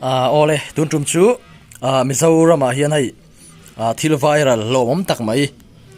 Aaa awle tun tum chu aaa Mizoramah hian hei aaa thil viral hlawmawm tak mai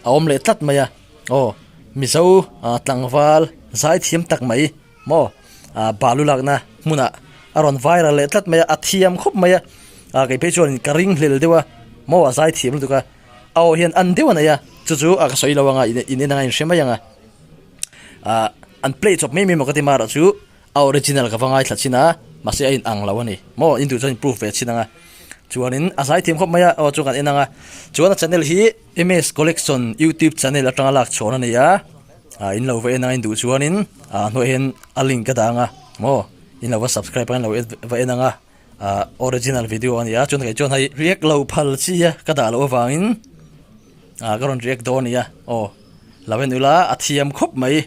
a awm leh tlat mai a aw Mizo aaa tlangval zai thiam tak mai maw aaa balu lakna hmunah a rawn viral leh tlat mai a a thiam khawp mai a aaa kei phei chuan ka ring hlel deuh a maw a zai thiam lutuk a aw hian a an deuh a nei a chu chu a ka sawi lo ang a in en anga a inhre mai ang a aaa an play chawp mai mai maw ka ti mar ah chu-- A original ka va ngaithla chin a, mahse a inang lo a ni. Maw? Intuih chuan in proof ve chin ang a. Chuanin a zai thiam khawp mai a, aw chuan kan en ang a. Chuan a channel hi MS Collection YouTube channel atanga lak chhuan a ni a, a in lo va en ang a, induh chuanin a hnuaia hian a link ka dah ang a maw? In lo va subscribe a, in lo va en ang a, a original video a ni a, chuan kei chuan hei riak lo phal chi a ka dah loh avangin ka rawn react dawn a nia. Aw lo en ula, a thiam khawp mai.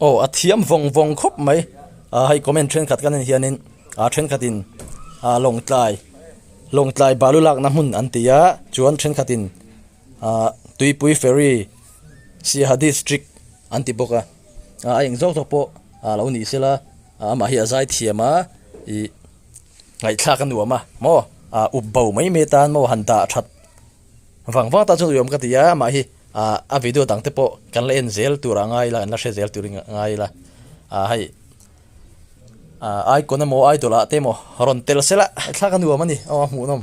Aw a thiam vawng vawng khawp mai ah hei comment thenkhat kan en hian in ah thenkhat in ah lawngtlai lawngtlai balu lakna hmun an ti a chuan thenkhat in ah tuipui ferry sir district an ti bawk a. a eng zawk zawk pawh a lo nih sela a mah hi a zai thiam a ih ngaihthlak a nuam a maw a up bo mai mai tan maw han dah that vang vang ta chuan uiawm ka ti a mah hi ah a video dang te pawh kan la en zel tur ah a ngai la kan la hre zel tur a ngai la a hei a aikawn emaw idol ah te emaw rawn tel sela ngaihthlak a nuam a ni aw a hmuhnawm.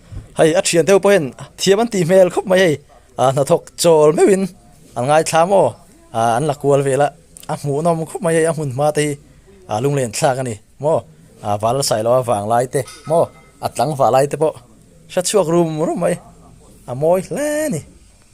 Hei a thian deuh pawhin thiam an tih hmel khawp mai hei, a hnathawk chawl meuhin an ngaithla maw an la kual vel a, a hmuhnawm khawp mai hei a hmun hma te hi a lunglen thlak a ni maw, a va la sailo a vang lai te maw, a tlang vah lai te pawh hre chhuak rum rum mai a mawi hle a ni.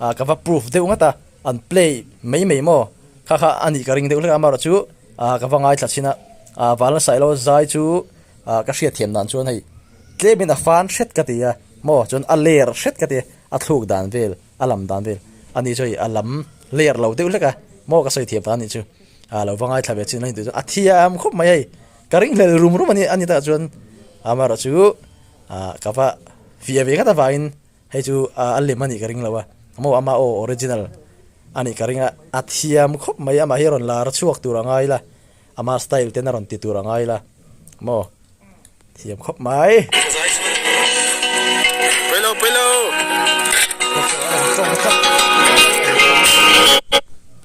A ka va proof deuh ngat a, an play mai mai maw kha kha a nih ka ring deuh hlek a, amarawhchu a ka va ngaithla chhin a, a va la sailo zai chu a ka hriat thiam dan chuan hei tlemin a fan hret ka ti a maw chuan a ler hret ka ti a thluk dan vel a lam dan vel a ni chu hei a lam ler lo deuh hlek a maw ka sawi thiam ta nih chu a lo va ngaithla ve chin a ni tih chu a thiam khawp mai hei ka ring hlel rum rum a ni a ni takah chuan amarawhchu a ka va fiah ve ngat avangin. Hei chu a lem a nih ka ring lo a, amaw ama aw original a nih ka ring a, a thiam khawp mai, amah hi a rawn lar chhuak tur a ngai la, ama style ten a rawn ti tur a ngai la maw, thiam khawp mai.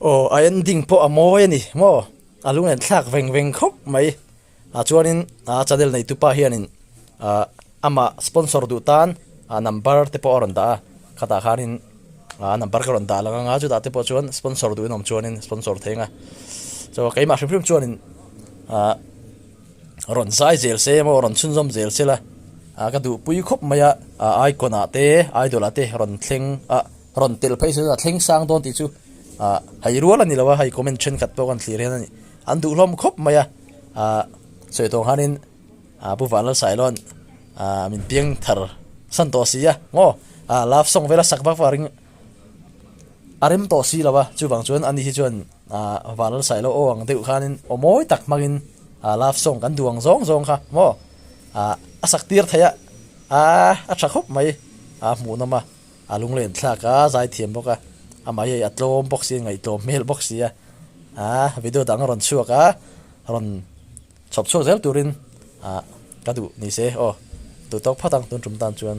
Aw a en ding pawh a mawi a ni maw? A lung en thlak veng veng khawp mai. A chuanin a channel neitu pa hianin amah sponsor duh tan a number te pawh a rawn dah a, khatah khanin a number ka rawn dah lang anga chutah te pawh chuan sponsor duhin awm chuanin sponsor thei anga chaw keimah hrim hrim chuanin rawn zai zel se emaw rawn chhunzawm zel se la ka duhpui khawp mai a icon ah te idol ah te rawn thleng a. rawn tel phei sela thleng sang dawn tih chu ah hai rual a ni lo a hei comment thenkhat pawh kan thlir hian a ni an duhlawm khawp mai a ah sawi tawh ang khanin ah pu vanlalsawi loan ah min piang thar san tawh si a maw ah love sawng vela sak vak vak ring a rem tawh si lo a chuvang chuan ani hi chuan ah vanlalsawi lo aw ang deuh khanin aw mawi tak hmangin ah love sawng kan duh ang zawng zawng kha maw ah a sak tir theih a ah a tha khawp mai ah hmuhnawm a. A lunglen thlak a zai thiam bawk a, amah hi a tlawm bawk si a, ngaihtlawm hmel bawk si a. Aa video dang a rawn chhuak a, a rawn chhawp chhuak zel turin ah ka duh ni se aw, duh tawk phat ang tun tum tan chuan.